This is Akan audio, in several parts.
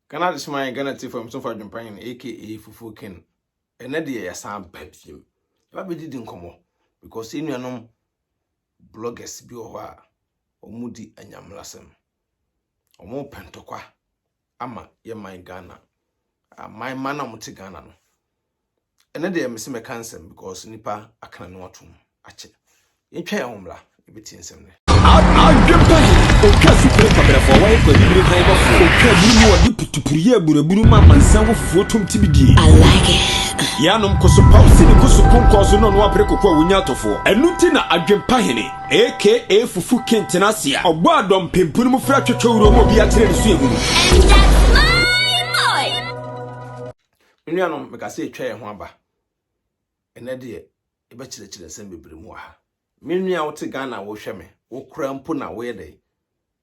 Ghana Adesoman yɛ Ghana Atiefo Nyamesom Fo Adwempanyin no aka Fufuo Ken. Ɛnnɛ deɛ yɛasan ba biom. Yɛba bɛdidi nkɔmmɔ because yɛn nuanom bloggers bi wɔ hɔ a wɔn di anyamlasɛm. Wɔn pɛ ntɔkwa ama yɛn man Ghana. Aman man a wɔn te Ghana no, Ɛnnɛ deɛ mese mɛka nsɛm because nipa akana no atom akyɛ. Yɛntwa yɛn ho mmra yɛbɛtie nsɛm nnɛ. Adwempa he, ɔtwa sukuu kwabrɛfoɔ, wɔyɛ kɔ abibire hann bɔfoɔ, ɔtwa aburu mu ɔde putupuru yɛ aburaburu ma amansan wofoɔ tom ti bi die. I like it. Yɛanom koso paw sini koso konkɔɔ so na ɔno apere koko a wonya atɔfoɔ. Ɛno nti na Adwempa hene, aka Fufu King tena ase a ɔbɔ adɔ mpempunu mu frɛ twɛtwɛ wuro ma obi akyerɛ ne suahunu. And that's my boy! Me nuanom, meka sɛ yɛatwa yɛn ho aba. Ɛnɛ deɛ, yɛbɛkyerɛkyerɛ nsɛm bebree mu wɔ ha. Me nua a wote Ghana a wohwɛ me, wo koraa mpo na woyɛ dɛn?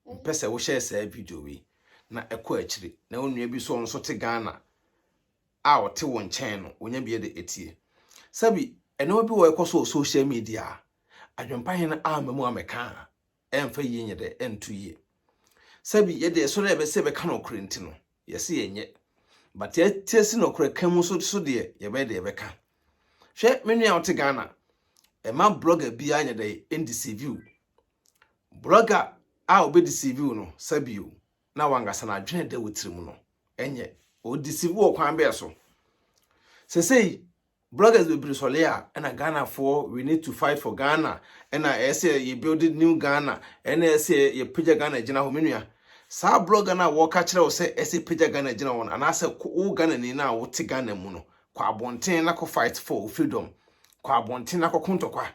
Mpɛ sɛ wohyɛ saa video wei na ɛkɔ akyiri na wo nua bi nso a ɔno nso te Ghana a ɔte wo nkyɛn no, onya bi de atie. Sɛbi, nneɛma bi wɔ ɛkɔ so wɔ social media a, Adwempa Hene amma mu ammɛka a, ɛmfa yie nyɛ dɛ, ɛnto yie. Sɛbi yɛ deɛ ɛsɔ dɛ yɛbɛ sɛ yɛbɛka nɔkorɛ nti no, yɛse yɛnyɛ. But yɛtase nɔkorɛ ka mu nso so deɛ, yɛbɛyɛ dɛ yɛbɛka. Hwɛ me nua a wote Ghana, ɛma blogger biara nyɛ dɛ ɛndeceive wo. Blogger a ɔbɛdeceive wo no, sɛbi o, na wankasa n'adwene ɛda wo tiri mu no, ɛnyɛ. Ɔdeceive wo ɔkwan bɛɛ so? Sesei, Bloggers bebree sɔre a ɛna Ghanafoɔ we need to fight for Ghana ɛna ɛyɛ sɛ yɛ build new Ghana ɛna ɛyɛ sɛ yɛ pagya Ghana gyina hɔ me nua saa blogger no a wɔka kyerɛ wo sɛ ɛsɛ pagya Ghana gyina hɔ no anaasɛ wo Ghanani no a wote Ghana mu no kɔ abɔnten na kɔ fight for wo freedom kɔ abɔnten na kɔ kontɔkwa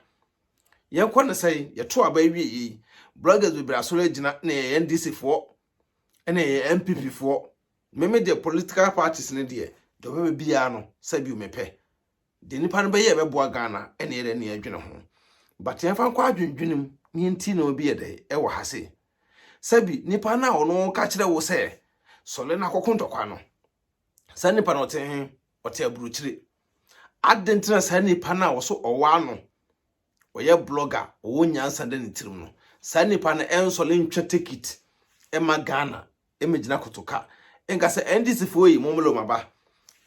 yɛn kɔ ne sɛe yɛto aba awie yei bloggers bebree asɔre agyina na yɛ NDC foɔ ɛna yɛ MPP foɔ Me me deɛ political parties no deɛ deɛ ɔbɛbɛ biara no sɛbio mepɛ deɛ nipa no bɛyɛ ɛbɛboa Ghana ɛne yɛdɛ ne yɛdwene ho but yɛmfa nkɔ adwendwene mu ne yɛnti na obi yɛdɛ ɛwɔ ha sei sɛbi nipa no a ɔno ka kyerɛ wo sɛ sɔle no akɔko ntɔkwa no saa nipa no ɔte he ɔte aburokyire adentena saa nipa no a ɔso ɔwɔ ano ɔyɛ blogger, ɔwɔ nyansa da ne tirim no, saa nipa no ɛnsɔre ntwa tekit ɛma Ghana ɛmɛgyina kotoka nka sɛ NDC foɔ yi mommrɛ wɔn aba,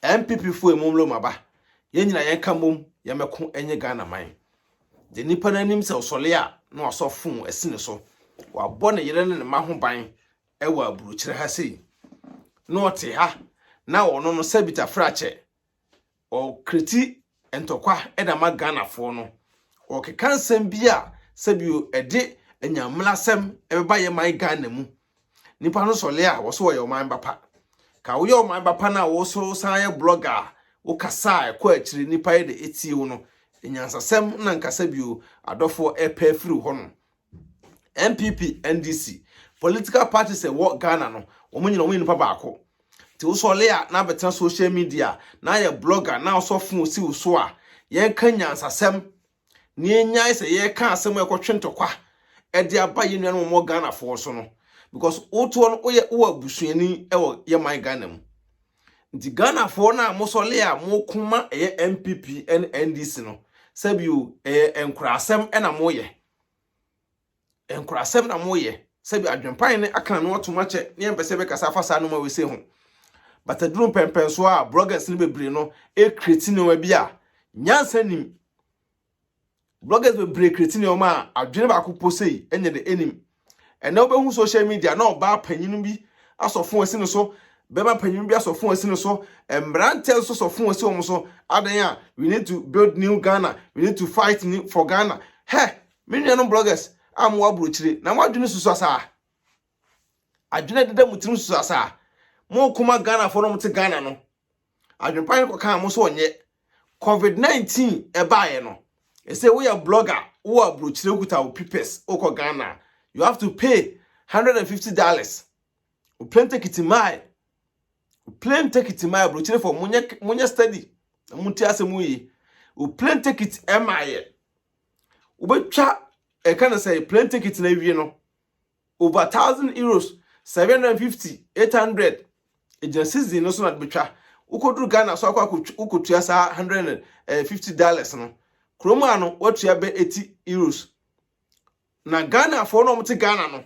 NPP foɔ yi mommrɛ wɔn aba, yɛn nyinaa yɛn ka mmom yɛn mɛko ɛnyɛ Ghana man. Deɛ nipa no anim sɛ ɔsɔre a na wasɔ fon asi ne so, wabɔ ne yere ne ne mma ho ban ɛwɔ aburokyire ha sei, na ɔte ha na ɔno no sɛbita frakyɛ ɔkreti ntɔkwa de ama Ghanafoɔ no, ɔkeka nsɛm bi a sɛbio ɛde anyammerasɛm ɛbɛba yɛ man Ghana mu. Nipa no sɔle a wɔso wɔyɛ ɔman bapa. Ka woyɛ ɔman bapa no a wɔso san yɛ blogger a wokasa a ɛkɔ akyiri nipa yɛ de etie wo no, nyansasɛm na nka sɛbio adɔfoɔ ɛpɛ afiri hɔ no. NPP, NDC, political parties a ɛwɔ Ghana no, wɔn nyinaa wɔyɛ nipa baako. Nti wosɔre a na abɛtena social media na ayɛ blogger na wosɔ fon si wo so a, yɛnka nyansasɛm na yɛnyae sɛ yɛka asɛm a ɛkɔtwe ntɔkwa de aba yɛn nuanom wɔn Ghanafoɔ so no because wotoɔ no woyɛ wowɔ abusuani wɔ yɛ man Ghana mu. Nti Ghanafoɔ no a mosɔre a moko ma ɛyɛ NPP ne NDC no, sɛbio ɛyɛ nkurasɛm na moyɛ. Nkrasɛm na moyɛ. Sɛbi adwempa hene aka n'ano atom akyɛ ne yɛmpɛ sɛ yɛbɛkasa afa saa nnoɔma wei sei ho. But aduru mpɛnpɛnsoɔ a bloggers no bebree no create nnoɔma bi a nyansa nim. Bloggers bebree create nnoɔma a adwene baako mpo sei nyɛ dɛ ɛnim. Ɛnɛ wobɛhu social media na ɔbaa panyin bi asɔ fon asi no so, bɛma panyin bi asɔ fon asi no so, mmerantɛ nso sɔ fon asi wɔn so. Adan a we need to build new Ghana, we need to fight new for Ghana. Hɛ, me nuanom bloggers a mo aburokyire na mo adwene susu asaa. Adwene deda mo tirim susu asaa. Mo koma Ghana fo no mo te Ghana no. adwenpa no kɔkaa mo sɛ ɔnyɛ covid 19 ɛbaeɛ no ɛsɛ woyɛ blogger wowɔ aburokyire wokuta wo pipes wokɔ ghana you have to pay 150 dollars wo plane ticket mae wo plane ticket mae aburokyire fɔ monyɛ monyɛ study na monti asɛm yi wo plane ticket ɛmaeɛ wobɛtwa ɛka no sɛ plane ticket no awie no Over thousand euros, seven hundred and fifty, eight hundred, egyina season no so na de betwa. Wokoduru Ghana so akɔ akotwa wokotua saa one hundred and eh, fifty dollars no. Kurom a no woatua bɛ eighty euros. Na Ghanafoɔ na wɔte Ghana no.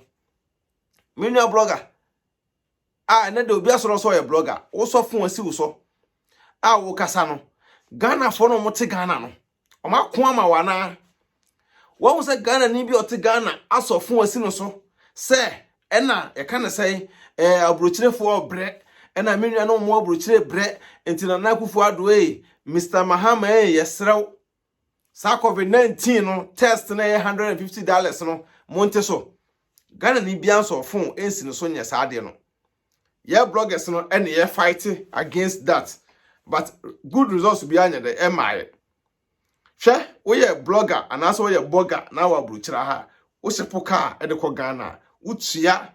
Me nua blogger a ɛnɛ de obi asɔrɔ sɛ ɔyɛ blogger, wosɔ fon asi wo so a wokasa no. Ghanafoɔ na wɔte Ghana no. wɔn ako ama wɔn anaa wɔn sɛ ghana ni bi a ɔte ghana asɔ fon asi no so sɛ ɛna yɛka ne sɛ ɛɛ aburokyerefoɔ brɛ ɛna me nua no wɔn aburokyire brɛ nti na n'akufo ado ee mr mahama ee yɛsrɛw saa covid nineteen no test na ɛyɛ hundred and fifty dollars no mo nte so ghana ni bi ansɔ fon nsi no so nyɛ saa adeɛ no. yɛ bloggers no ɛne yɛ fight against that but good results biara nyɛ dɛ ɛmaayɛ hwɛ woyɛ blogger anaasɛ woyɛ blogger na wɔ aburokyerɛ ha wohyɛ po kaa ɛde kɔ ghana a wotua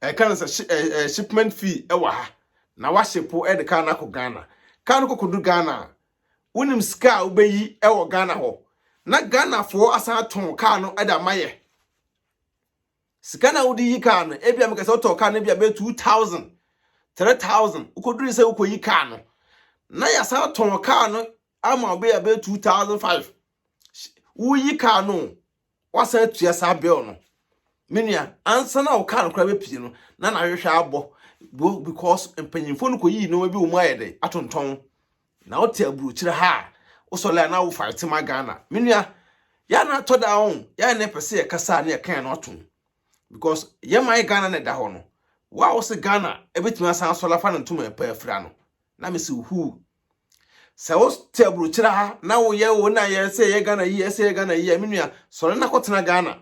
ɛka no sɛ shipment fee ɛwɔ ha na wahyɛ po ɛde kaa no akɔ ghana kaa no kɔkɔdu ghana a wonim sika a wobɛyi ɛwɔ ghana hɔ na ghanafoɔ asan atɔn kaa no ɛde ama yɛ Sika no a wode yi kaa no, ebia mekasa wotɔɔ kaa no ebia bɛyɛ two thousand, three thousand, wokɔdurui sɛ wokɔyi kaa no, na yɛasan atɔn kaa no ama ɔbɛ a bɛyɛ two thousand five. Woyi kaa no, woasan atua saa bill no. Me nua, ansa na wo kaa no koraa bɛpie no, na n'ahwehwɛ abɔ because mpanyimfoɔ no kɔyii nneɛma bi wɔ mu ayɛ dɛ atontɔn. Na wote aburokyire ha a wosɔle a na wo fight ma Ghana me nua yɛ a na atɔ da ho yɛ a na yɛpɛ sɛ yɛkasa a na yɛka yɛn ano atom because yɛ man Ghana na ɛda hɔ no wo a wose Ghana ɛbɛtumi asan asɔle afa no ntoma ɛpɛ afira no na mese wo huu sɛ wote aburokyire ha na woyɛ wo na yɛ sɛ yɛ Ghana yi yɛ sɛ yɛ Ghana yi a me nua sɔle na kɔtena Ghana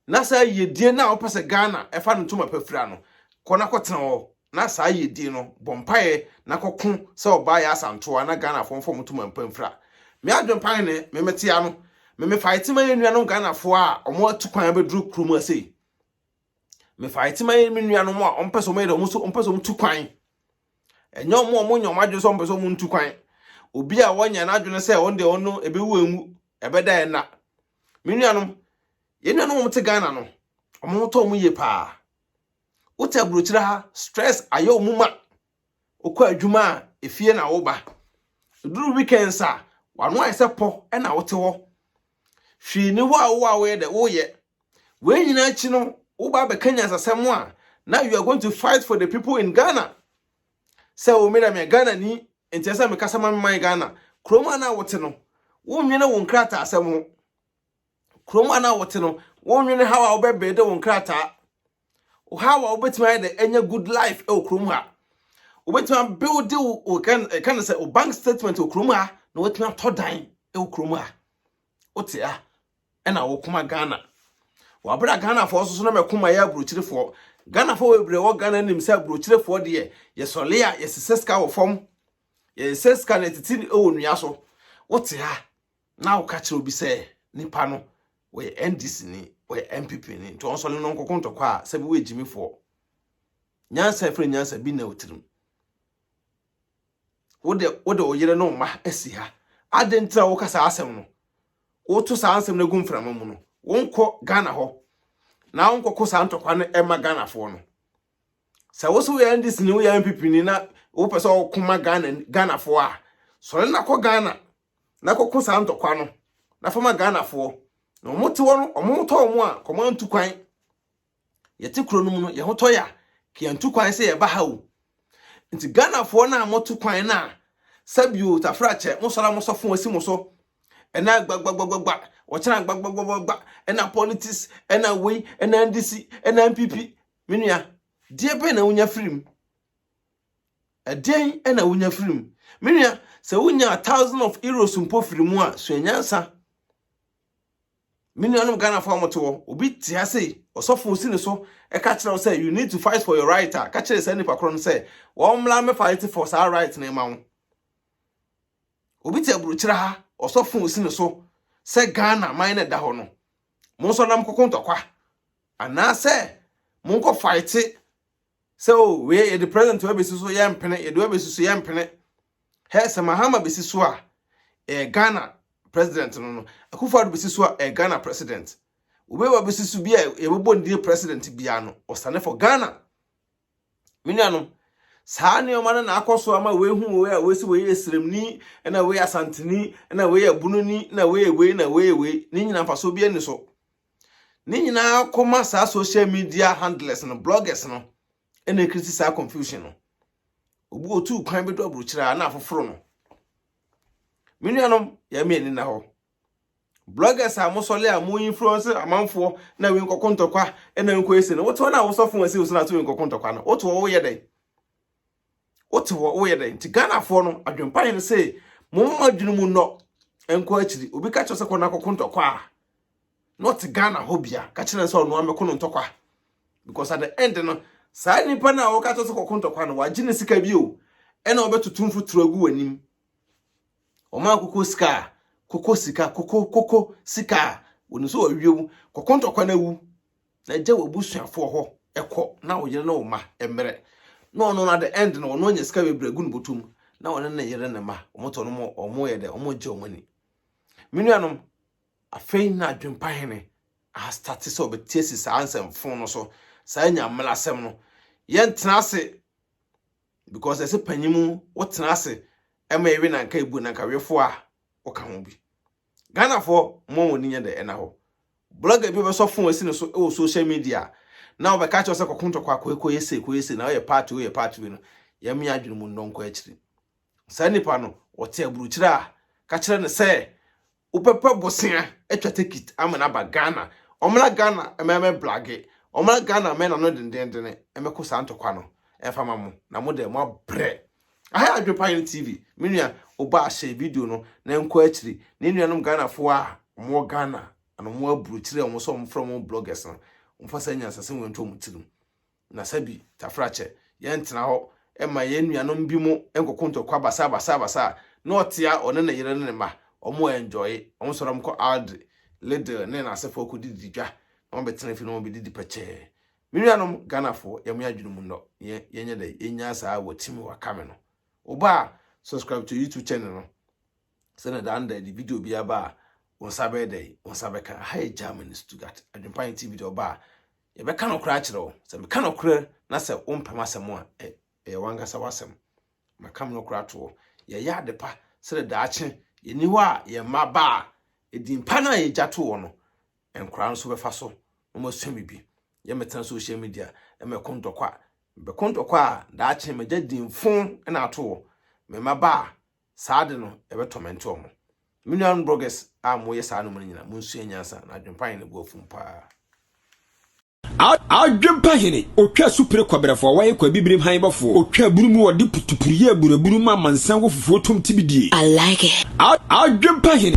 na saa yiedie no a wopɛ sɛ Ghana ɛfa no ntoma pa fira no, kɔ na kɔtena hɔ na saa yiedie no bɔ mpaeɛ na kɔko sɛ ɔbaa yɛ asantoa na Ghanafoɔ mfa wɔn ntoma mpa mfira. Me adwene paa ne me mete a no, me me faete ma yɛn nuanom Ghanafoɔ a wɔn atu kwan abɛduru kuro mu ha sei. Me faete ma yɛn me nuanom a wɔn pɛ sɛ wɔn yɛ dɛ wɔn so wɔn pɛ sɛ wɔn tu kwan. Ɛnyɛ wɔn a wɔn nyɛ wɔn adwene sɛ wɔn pɛ sɛ wɔn ntu kwan. Obi a wɔnyɛ n'adwene sɛ wɔn deɛ wɔn no ɛbɛwu enwu ɛbɛda ɛna. Me nuanom, yɛn nuanom a wɔte Ghana no, wɔn ho tɔ wɔn yie paa. Wote aburokyire ha, stress ayɛ wɔn ma. Wokɔ adwuma a, efie na woba. Ɛduru weekends a, w'ano ayɛ sɛ pɔ na wote hɔ. Hwee ni hɔ a wowɔ a woyɛ dɛ, woyɛ. Wei nyinaa akyi no, woba abɛka nyansasɛm a, na you are going to fight for the people in Ghana. sɛ o me na me Ghana ni nti ɛsɛ me kasa ma me man Ghana kurom a na wote no wonwene wo nkrataa asɛm ho kurom a na wote no wonwene how a wobɛbɛɛde wo nkrataa how a wobɛtumi ayɛ dɛ ɛnyɛ good life ɛwɔ kurom ha wobɛtumi abuilde wo ɛka no sɛ o bank statement wɔ kurom ha na watumi atɔ dan ɛwɔ kurom ha wote a na wɔkoma Ghana. Wɔ bere a Ghanafoɔ nso so na mɛko ma yɛ aburokyerefoɔ. Ghanafoɔ bebree wɔ Ghana nim sɛ aburokyerefoɔ deɛ yɛsɔle a yɛsesɛ sika wɔ fam. Yɛsesɛ sika na ɛtete wɔ nnua so. Wote ha na woka kyerɛ obi sɛ nipa no wɔyɛ NDC ni, wɔyɛ NPP ni, nti ɔnsɔle no nkɔko ntɔkwa a sɛ bi wɔ agyimifoɔ. Nyansa ɛfiri nyansa bi na otirim. Wo de, wode wo yere ne wo mma asi ha. Adɛn nti na woka saa asɛm no? Woto saa nsɛm no gu mframa mu no, wonkɔ Ghana hɔ na wonkɔko saa ntɔkwa no ɛma Ghanafoɔ no. Sɛ wo so woyɛ NDC ni, woyɛ NPP ni na wopɛ sɛ ɔko ma Ghana Ghanafoɔ a, sɔre na kɔ Ghana na kɔko saa ntɔkwa no na fama Ghanafoɔ. Na wɔn te hɔ no, wɔn tɔ wɔn a, kɔma ntu kwan. Yɛte kuro no mu no, yɛn ho tɔ yɛa, yɛntu kwan sɛ yɛba ha o. Nti Ghanafoɔ no a moto kwan no a, sɛbio tafrakyɛ, mosɔre a mosɔfo asi mo so, ɛna gbagbagbagba, wɔkyena gbagbagbagba, ɛna politics, ɛna wei, ɛna NDC, ɛna NPP. Me nua, deɛ bɛn na wonya firi mu? Ɛdeɛn na wonya firi mu? Me nua, sɛ wonya thousand of euros mpo firi mu a, sua nyansa. Me nuanom Ghanafoɔ a mote hɔ, obi te ha sei, ɔsɔfo si ne so ka kyerɛ wo sɛ you need to fight for your right a, ka kyerɛ saa nipa korɔ no sɛ wɔmmra me fight for saa right no ma wo. Obi te aburokyerɛ ha, ɔsɔfo si ne so sɛ Ghana man na ɛda hɔ no, mo nso nam koko ntɔkwa anaasɛ monkɔ fight sɛ o oh, wei yɛde president wa bɛsi so yɛ mpene yɛde wa bɛsi so yɛ mpene hɛ sɛ mahama bɛsi so a eh, ghana president no no akufo ado bɛsi so a eh, ghana president obi wa bɛsi so bi a yɛbɛbɔ ndie president biara no ɔsane for ghana me nuanom saa nneɛma no na akɔ so ama wɔahu wei a wɔsi wɔyɛ esremni na wɔyɛ asanteni na wɔyɛ abunoni na wɔyɛ wei na wɔyɛ wei ne nyina mfasoɔ bi ani so Ne nyinaa kɔma saa social media handlers no, bloggers no, ɛna ɛkriti saa confusion no. Obi otu kwan bɛdu aburokyerɛ a na afoforo no. Me nuanom, yɛn mmienu na hɔ. Bloggers a mosɔle a mo influence amanfoɔ na wei nkɔko ntɔkwa na nkɔ ese no, wote wɔn a wosɔfo wɔn ase wosena to wei nkɔko ntɔkwa no, wote wɔn woyɛ dɛn? wote hɔ woyɛ dɛn nti ghanafoɔ no adwempa yɛ no sɛ mo mma adwene mu nnɔ nkɔ akyiri obi ka kyerɛ sɛ kɔ no akɔko ntɔkwa a na ɔte ghana hɔ bia ka kyerɛ sɛ ɔno amɛko no ntɔkwa because at the end no saa nipa no a wɔka kyerɛ sɛ kɔko ntɔkwa no wagye ne sika bi o ɛna ɔbɛtoto mfuturo agu w'anim ɔma koko sika a koko sika koko koko sika a wɔnim sɛ wɔawie wo kɔko ntɔkwa no awu na gya w'abusuafoɔ hɔ kɔ na wo yere ne wo mma mmrɛ na ɔno no at the end no ɔno anya sika bebree agu ne bɔtɔ mu na ɔne ne yere ne mma wɔtɔ no wɔn yɛ dɛ wɔn gye wɔn ani me nuanom afei na adwempa hene ahastate sɛ ɔbɛtie si saa nsɛmfo no so saa nyamela asɛm no yɛntena ase because ɛsɛ panyin mu wotena ase ɛma ɛwe na nka ebu na nka wefo a woka ho bi Ghanafoɔ mo mo ani nyɛ dɛ ɛna hɔ. Blogger bi ɔbɛsɔ phone asi ne so wɔ social media na ɔbɛka akyerɛ wo sɛ kɔko ntɔkwa kɔ kɔ yɛ sei kɔ yɛ sei na ɔyɛ part wei ɔyɛ part wei no yɛmea adwene mu nnɔ nkɔ akyiri. Saa nipa no ɔte aburukyire a ka kyerɛ no sɛ wobɛpɛ bosea atwa tekit ama no aba Ghana. Ɔmmra Ghana mma ɛmɛ blage, ɔmmra Ghana mma ɛna no dendenndene mmɛko saa ntɔkwa no mfa ma mo na mo dɛ mo abrɛ. Aha Adwepa Yen TV, me nua Obaa hyɛ video no na ɛnkɔ akyiri na yɛn nuanom Ghanafoɔ a wɔn wɔ Ghana ana wɔn wɔ aburokyire a wɔn sɛ wɔn frɛ wɔn bloggers no wɔn fa saa nyansasem wei nto wɔn tirim na sɛbi Tafrakyɛ yɛn tena hɔ ɛma yɛn nuanom bi mo nkɔko ntɔkwa basaa basaa basaa na ɔtea ɔne ne yere ne ne mma wɔn wɔ enjoye wɔn sɔre wɔn kɔ Aldi, Lidl ne n'asefoɔ kɔ didi dwa na wɔn bɛtena fie na wɔn bɛdidi pɛkyɛɛ. Me nuanom Ghanafoɔ yɛ mo adwene mu nnɔ yɛ yɛnyɛ dɛ yɛnyaa saa wɔ team wɔ kame no wo ba a subscribe to YouTube channel no sɛ na daa no da yɛde video bi aba a wo nsa bɛyɛ dɛ wo nsa bɛka aha yɛ Germany Stuttgart Adwempan TV deɛ ɔba a yɛbɛka nokorɛ akyerɛ wo sɛ meka nokorɛ na sɛ wompɛ m'asɛm a ɛ ɛyɛ wankasa w'asɛm maka me nokorɛ ato hɔ yɛyɛ ade pa sɛ na daakye yɛni hɔ a yɛn mma ba a edin pa no a yɛgya to hɔ no nkwadaa nso bɛfa so na wɔasua biribi. Yɛ mɛtena social media mɛko ntɔkwa. Mɛko ntɔkwa a daakye mɛgya dinfo na ato wɔ me mma ba a saa de no ɛbɛtɔmɛnte wɔn. Me nuanom bloggers a moyɛ saa no mu no nyinaa monsua nyansa na adwempa yɛ ne bo afum paa. Adwempa hene, otwa su pere kɔberɛfo a wɔyɛ kɔ abibirim hann bɔfo, otwa abunu mu wɔde putupuru yɛ abunu abunu mu amansan wɔ fufuo tom tibidie. I like it. Adwempa hene.